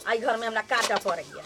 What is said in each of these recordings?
आई घर में हमरा काटा पड़ गया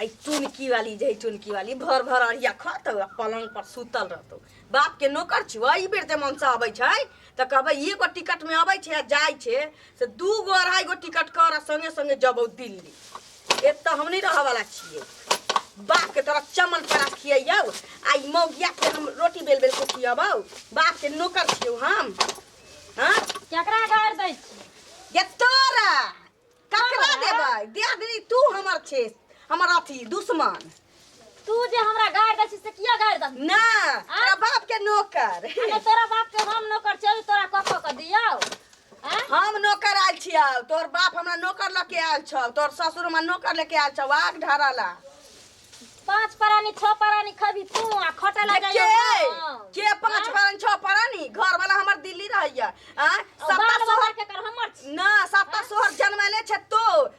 आई चुनकी वाली जे है चुनकी वाली भर भर अरिया खत आ पलंग पर सुतल रहतो बाप के नौकर छु ई बेर जे मन से अबै छै तऽ कहबै एगो टिकट में अबै छै आ जाइ छै से दू गो अढ़ाई गो टिकट कर आ संगे संगे जबौ दिल्ली एक तो हम नहीं रह वाला छिए बाप के तोरा चमन पड़ा खियौ आ ई मौगिया के हम रोटी बेल बेल के खियबौ बाप के नौकर छियौ हम हाँ केकरा गाड़ दै छी ये तोरा ककरा देबै दे दी तू हमर छे हमर अथी दुश्मन तू जे हमरा गाड़ दै छी से किया गाड़ दै छी? ना तोरा बाप के नौकर अरे तोरा बाप के हम नौकर चल तोरा कखो के दियो हैं? हम नौकर आयल छियौ तोर बाप हमरा नौकर लऽ के आयल छौ तोर ससुर हमरा नौकर लेके आयल छौ आग ढारा ला पांच परानी छह परानी खबी तू आ खटे ले के जाइयो के पांच परानी छह परानी घर वाला हमर दिल्ली रहैया आ सत्ता बाल सोहर बाहर के कर हमर छी। ना सत्ता सोहर जनमले छै तो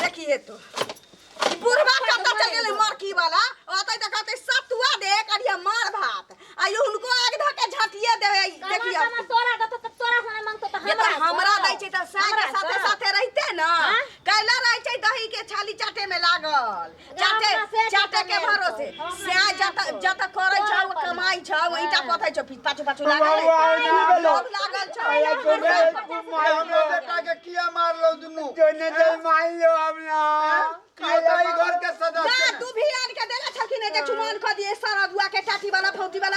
देखी हे तो ई बुढ़वा कतऽ चल गेलै मरकी वाला ओतै तऽ कहतै सतुआ दे करिया मार भात आ ई हुनको आग धऽ के झाँटिए देबै ई कमा देखियौ कमा तोरा देतो तऽ तोरा हमरा मांगतो तऽ ये हमरा तऽ हमरा दै छै तऽ साग हमरा साथे सँ। साथे रहिते न हाँ? कैला रहै छै दही के छाली चाटे में लागल चाटे चाटे के भरोसे स्या जत जत करै छौ कमाई छौ ईटा पथै छौ पीछ पाछू पाछू लागल है। लोभ लागल छौ ना तू भी आन के देला छलखिन जे चुमान क दिए सरदुआ के टाटी वाला फौटी वाला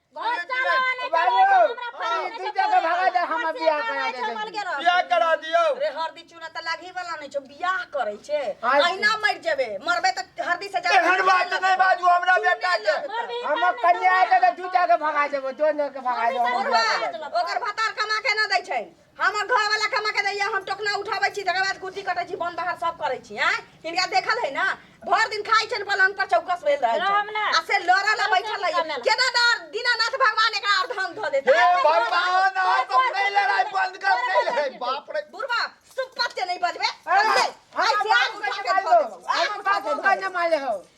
घर चलो ने बाबू ई दू जगह भगा दे हम बियाह करा दे चल गेलो बियाह करा दियो रे हरदी चूना त लागी वाला नै छौ बियाह करै छै आइ- अहिना मर जेबे मरबे त हरदी से जा एहन बात नहीं बाजू हमरा बेटा के हम कन्या के दू जगह भगा देबो दोनों के भगा देबो हम बियाह करा देबो। ओकर भतार कमा के ना दै छै हमर घर वाला कमा के दैया हम टोकना उठाबै छी तकर बाद कुर्ती कटै छी बन बाहर सब करै छी हैं हिनका देखल है ना भर दिन खाइ छन पलंग पर चौकस भेल रहै रहम छन ना। आ से लड़ा ला बैठल रहै रहम ना। केना डर दीनानाथ भगवान एकरा अर्धन ध देत हे भगवान आज तुम नहीं लड़ाई बंद कर नहीं लड़ाई बाप रे बुढ़वा सुपत्य नहीं बजबे अरे, समझे? हम आइ से बाबू आगू के खा के मार धो दो। देबो, आगू हम खा के बाबू धो का देबो। न मारे हो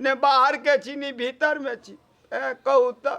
ने बाहर के छी ने भीतर में छी कहू तऽ